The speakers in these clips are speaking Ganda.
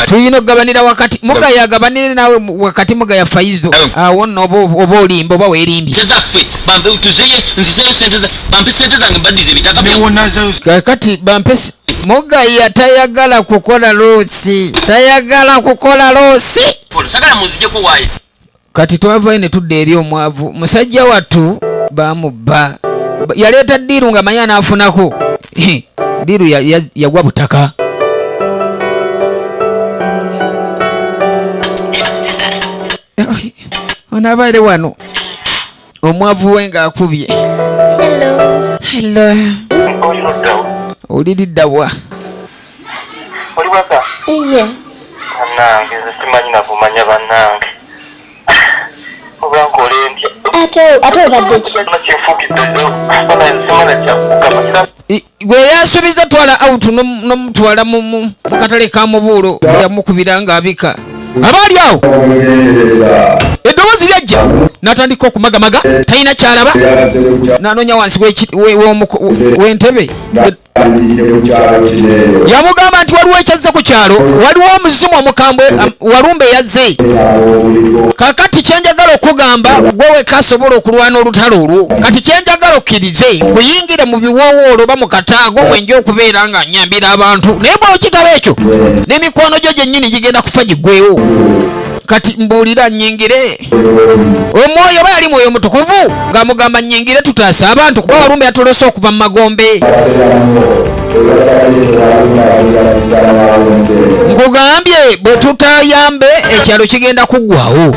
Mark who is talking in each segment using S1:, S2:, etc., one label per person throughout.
S1: tulina okugabanira wakati mugaya agabanire nawe wakati mugaya faizo awo nno oba olimba oba werimbye
S2: kakati
S1: bampe mugaya tayagala kukola loosi tayagala kukola loosi
S2: kati twavayo
S1: ne tudda eri omwavu musajja wattu bamubba yaleeta ddiiru nga manya anaafunako ddiiru yagwa butaka onabaire wano omwavu we ng'akubye olilidda wa
S3: ate obadde
S4: ki
S1: gwe yasubiza twala out nomutwala mukatale ka mubuulo yamukubira nga abika abaali awo eddoboozi lyajja natandika okumagamaga talina kyalaba nanonya wansi wentebe yamugamba nti waliwo ekyazze ku kyalo waliwo omuzimu omukambwe walumba eyazze kakati kyenjagala okugamba gwe wekasobola okulwana olutalo olwo kati kyenjagala okiri nze nkuyingire mu biwoowoolo oba mu kataago mwenja okubeera nga nyambira abantu naye bwokitaba ekyo n'emikwano gyo gyennyini gigenda kufa gigwewo kati mbuulira nyingire omwoyo oba yali mwoyo mutukuvu nga mugamba nyingire tutaase abantu kuba walumbe yatolose okuva mu magombe nkugambye bwe tutayambe ekyalo kigenda kuggwawo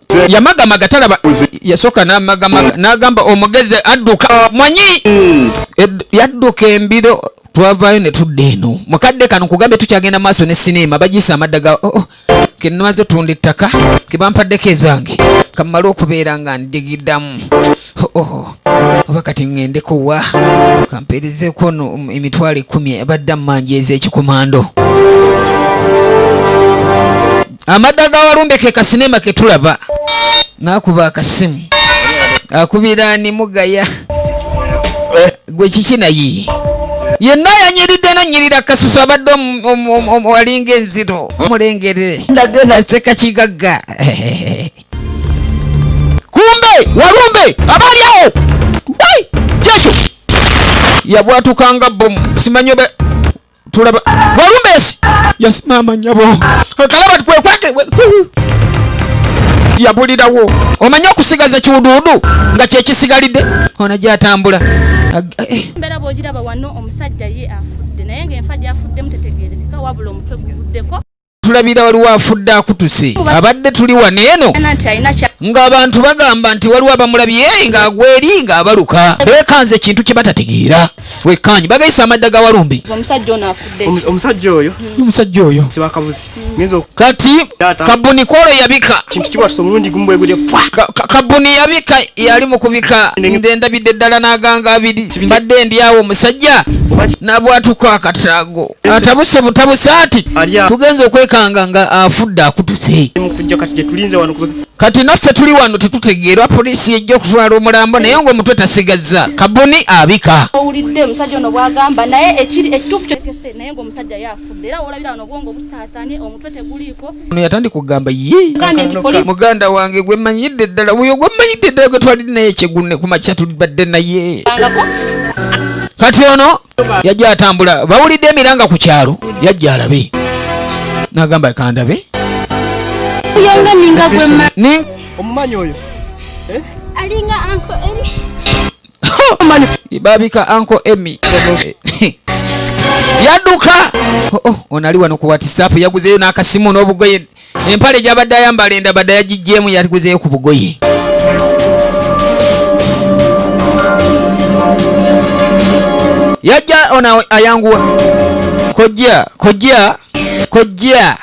S1: yamagamaga talaba yasooka namagamaga nagamba omugezi adduka manyi yadduka embiro twavaayo ne tudda eno mukadde kano nkugambye tukyagenda maaso ne sineema bagiisa amadda ga oh, oh, kenamaze otunda ettaka kebampaddeko ezange kamala okubeera nga ndigiddamu oh, oh, oba kati ŋŋendeko wa kampeerezeko no um, emitwalo ekkumi abadde mmanjeeza ekikomando amadda ga walumbe ke kasinema ke tulaba n'akuba akasimu akubira ani mugaya eh. gwe kiki naye yenna yanyiridde nonyirira kasusu abadde walinga enziro mulengerere aseka kigagga kumbe walumbe abaali awo kyekyo yabwatukanga bomu simanyi tulaba walumbesi yes mama nyabo kalaba kwekwake yabulirawo omanyi okusigaza kiwuduwudu nga kyekisigalidde ono gyatambula embeera
S5: bwogiraba wano omusajja ye afudde naye nga enfa gyafuddemu tetegerekeka wabula omutwe guvuddeko tulabira waliwo
S1: afudde akutuse abadde tuli wano eno ng'abantu bagamba nti waliwo abamulabye ng'agwa eri ng'abaluka beekanze ekintu kye batategeera wekkaanyi bagayise amadda ga walumbe omusajja oyo omusajja oyo
S6: kati
S1: kabuni kwolo yabika kabuni yabika yali mu kubika nze ndabidde ddala n'aganga abiri mbadde ndi awo omusajja nabwatuka akataago atabuse butabuse ati tugenze okwekanga nga afudde akutuse kati naffe tuli wano tetutegeerwa poliisi yejja okutwala omulambo naye nga omutwe tasigazza kabuni abika owulidde omusajja ono
S5: bwagamba naye ekituufu kyekese naye nga omusajja yafudde era olabira wano obwongo busaasanye omutwe teguliiko ono yatandi kugamba
S1: ye muganda wange gwemanyidde ddala oyo gwemanyidde ddala gwetwaliri naye kyegunne kumakya tulibadde naye kati ono yajja atambula bawulidde emiranga ku kyalo yajja alabe nagamba kandabe
S4: yanga ninga gwe mani omumanyi oyo
S6: eh?
S4: alinga anko emi babika anko emi
S1: yaduka oh, oh, onali wano ku whatsapp yaguzeyo n'akasimu n'obugoye empale gyabadde ayambala endabada yagijjeemu yatiguzeyo ku bugoye yajja ona ayanguwa kojja kojja kojja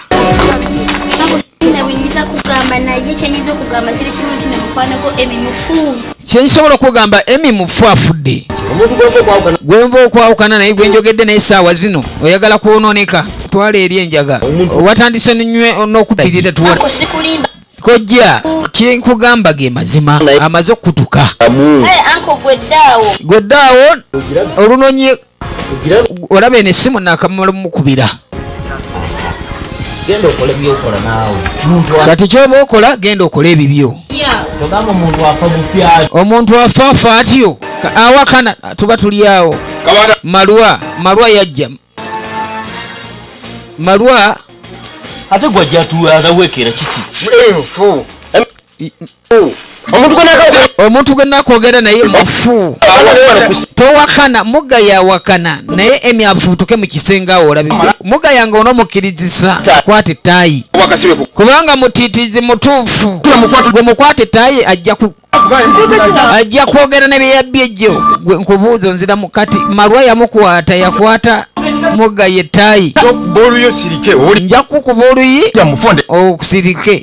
S4: kyensobola okugamba
S1: emi mufu afudde gwenva okwawukana naye gwenjogedde naye saawa zino oyagala kwononeka twala eri enjaga watandise nywe nokupirira tuwa kojja kyenkugamba ge mazima amaze okukutuka gweddaawo olunonye olaba eno esimu nakamala mukubira
S6: genda okole byokola naawe kati kyoba
S1: okola genda okole ebibyo
S6: omuntu afa afa
S1: atyo awakana tuba tuli awo malwa malwa yajja malwa ate
S6: gwajjatuwekera kiki
S1: omuntu gwenakwogera naye mufu towakana muga yawakana naye emi afutuke mukisenge awo olabi muga yange onomukirizisa kwata etayi kubanga mutitizi mutuufu gwe mukwata etayi ajja ajja kwogera nebyeyabbi ejjo gwe nkubuuza onzira mukati malwa yamukwata yakwata muga yetayi nja kukuba oluyi okusirike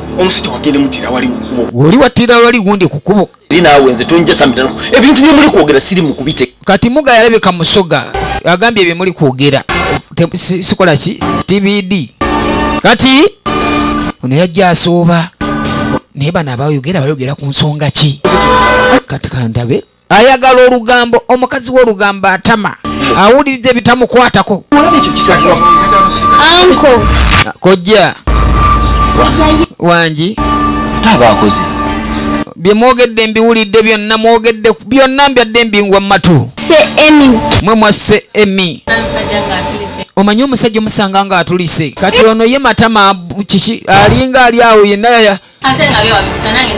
S1: omusajja wagende
S7: mutira wali mukubo woli watira wali gundi
S1: kukubo eri naawe nze tonjasamira
S6: ebintu byemuli kwogera siri mukubite kati muga yalabika
S1: musoga agambye byemuli kwogera sikola ki tbd kati ono yajja asooba naye bano abayogera bayogera ku nsonga ki kati kandabe ayagala olugambo omukazi wolugambo atama awuliriza ebitamukwatako
S4: kojja
S1: wangi tabakoze byemwogedde mbiwulidde byonna mwogedde byonna mbyadde mbingwa mumatu mwe
S4: mwasse
S1: emi omanyi omusajja omusanga nga atulise kati ono ye matama kiki alinga ali awo yenna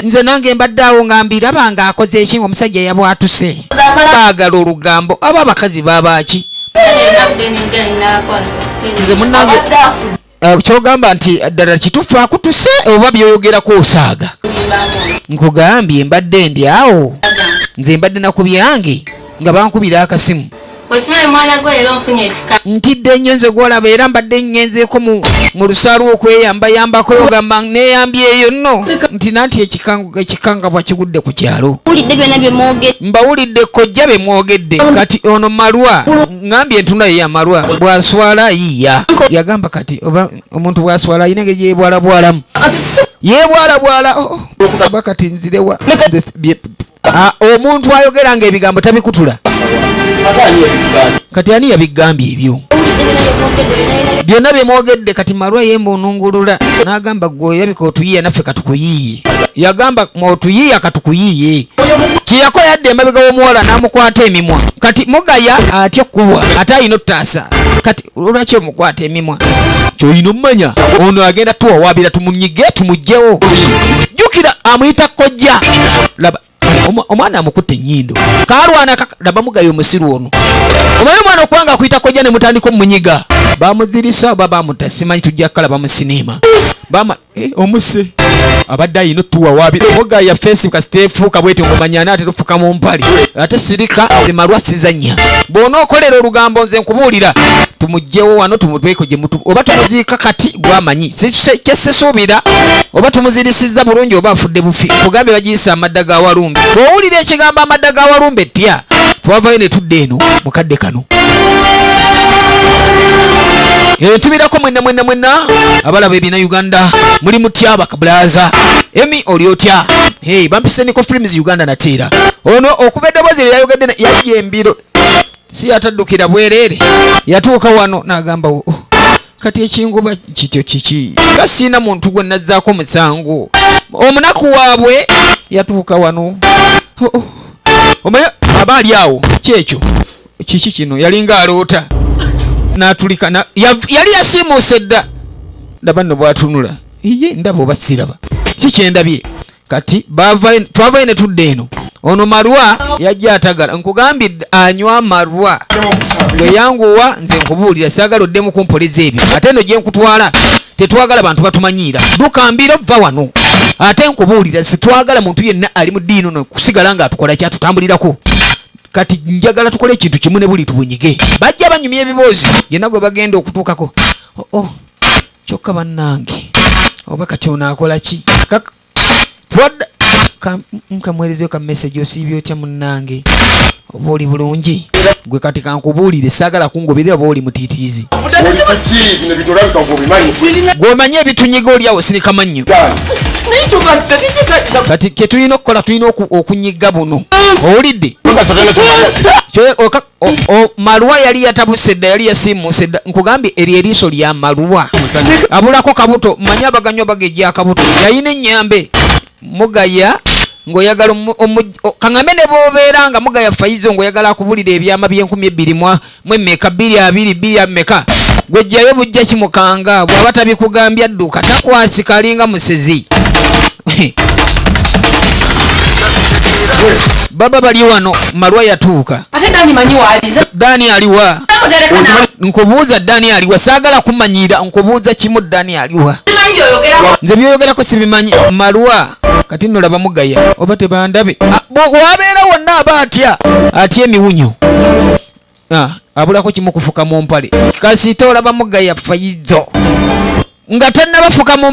S1: nze nange mbadde awo nga mbiraba nga akoze eki nga omusajja yabwatuse baagala olugambo aba abakazi babaaki nze munange eh, kyogamba nti ddala kitufu akutuse oba byoyogerako osaaga nkugambye mbadde ndi awo nze mbadde nakubyange nga bankubira akasimu Okimanyi mwana gwe era onfunye ekika. Ntidde nnyo nze gw'olaba era mbadde ngenzeeko mu lusaalu okweyambayambako ogamba neeyambyeyo nno nti nanti ekikangabwa kigudde ku kyalo. Mbawulidde kojja be mwogedde kati ono malwa ngambye entuna ye yamalwa bw'aswala yiya yagamba kati oba omuntu bw'aswala ayina engeri gyebwalabwalamu yeebwalabwala oh, oh, oba kati nzirewa Ah, omuntu ayogera nga ebigambo tabikutula kati ani yabigambye ebyo byonna byemwogedde kati malwa yemba onungulula nagamba gwe yabika otuyiya naffe katukuyiye yagamba otuyiya katukuyiye kyeyako yadde emabega womuwala namukwata emimwa kati mugaya atya okuwa ate ayina otutaasa kati olwaki omukwata emimwa kyolina omumanya ono agenda tuwawaabira tumunyige tumugyewo jukira amuyita kojja laba omwana amukutte enyindo kalwana laba mugayo omusiru ono omanyi omwana okubanga akuyita kojja ne mutandika omunyiga bamuzirisa oba bamuta simanyi tujja kukalaba mu siniima bamala Eh, omuse abadde ayina otuwa wabi oga ya fesi kasita efuuka bwete ngomanya anaate tufuka mu mpale ate sirika zemalwa sizanya bwona okolera olugambo nze nkubuulira tumugjewo wano tumutweko gyemutu oba tumuziika kati gwamanyi kyesisuubira oba tumuzirisiza bulungi oba afudde bufi kugambye bagiyisa amadda ga walumbe bwowulira ekigambo amadda ga walumbe tya twavayo ne tudda eno mukadde kano Eh, tubirako mwenna mwenna mwenna abalaba ebina uganda muli mutya bakabulaza emi oli otya hey, bampise niko films uganda nateera ono okuva eddoboozi lye yayogedde yajja embiro si yataddukira bwereere yatuuka wano n'agamba oh, kati ekingoba kityo kiki nga siina muntu gwe nazzaako musango omunaku waabwe yatuuka wano oh, oh. omaye aba ali awo kyekyo kiki kino yalinga aloota natulika yali yasiimuuse dda ndaba nno bwatunula iye ndaba oba siraba si kyendabye kati twavayo ne tudda eno ono marwa yajja atagala nkugambye anywa marwa weyanguwa nze nkubuulira sagala oddemu kumpoliza ebyo ate eno gyenkutwala tetwagala bantu batumanyiira duka mbiro vva wano ate nkubuulira sitwagala muntu yenna ali mu diini ono kusigala nga atukola kyatutambulirako kati njagala tukole ekintu kimu ne buli tubunyige bajja banyumya ebiboozi yenna gwe bagenda okutuukako oh, oh. kyokka bannange oba kati ono akola ki nkamuweerezeyo ka message osiibye otya munnange oba oli bulungi gwe kati kankubuulire saagala kungoberera oba oli mutiitiizi gweomanyi ebitunyiga oliawo sinika mannyo kati kyetulina okukola tulina okunyiga buno owulidde maluwa yali yatabuse dda yali yasiimuuse dda nkugambye eryo eriiso lya maluwa abulako kabuto manya abaganywa bagejja akabuto yayina ennyambe mugaya ngoyagala kaŋambe ne bobeera nga mugaya fayizo ngoyagala akubulira ebyama byenkumi ebbiri mwa mwe meka bbiri abiri bbiri ameka gwejjayo bujja kimukanga bwaba tabikugambya dduka takwasika alinga musezi baba bali wano malwa yatuuka dani aliwa nkubuuza dani aliwa saagala kumanyira nkubuuza kimu dani aliwa nze byoyogerako sibimanyi malwa kati nno laba mugaya oba tebandabe ah, wabeera wonna aba atya atya emiwunyo ah, abulako kimu kufuka mu mpale kasita olaba mugaya fayizo nga tannabafuka mu